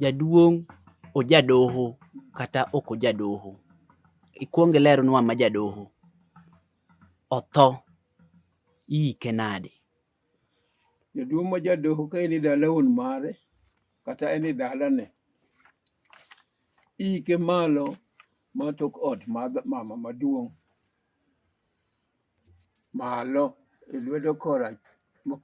Jaduong' ojadoho kata ok ojadoho. Ikwong ilernwa ma jadoho otho iike nade? Jaduong' ma jadoho ka en e dala wuon mare kata en e dalane, iike malo ma tok ot mar mama maduong'. malo e lwedo kora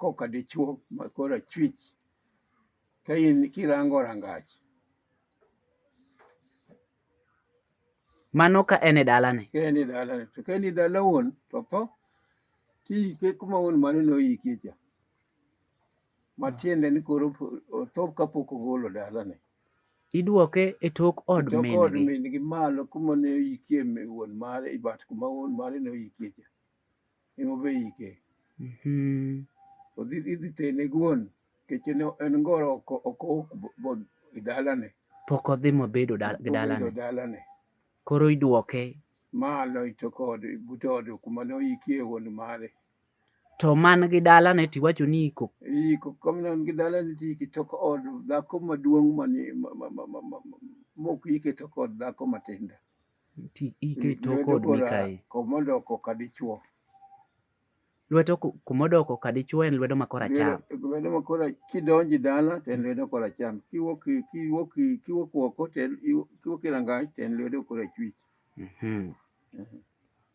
koka dichuo ma kora chwich ka in kirango rangach mano ka en e dalane ka en e dalane to ka en e dala wuon to tho tiike kuma wuon mane noyikie cha matiende ni koro otho kapok ogolo dalane Idwoke e tok od Choko od min-gi. min-gi malo kuma ne oyikie mi- wuon mare i bat kuma wuon mare ne oyikie cha. Ema be iyike. Mhm. Odhi idhi tene guon nikech en en ngoro oko oko ok bo- bo- e dalane. Pok odhi mobedo dal- gi Obedo dalane. dalane. Koro idwoke. Malo i tok od but od kuma ne oyikie wuon mare. To man gi dala ne tiwacho ni iko. Iko kom nan gi dala ne ti ki tok od dhako maduong' mani mok ike tok od dhako matinda. Ti ike tok od Mikai. Komodoko ka dichuo. Lwedo kumodoko ka dichuo en lwedo ma koracham. Lwedo ma kora kidonji dala to en lwedo koracham. Kiwuok kiwuok kiwuok oko to en kiwuok e rangach to en lwedo korachwich. Mhm.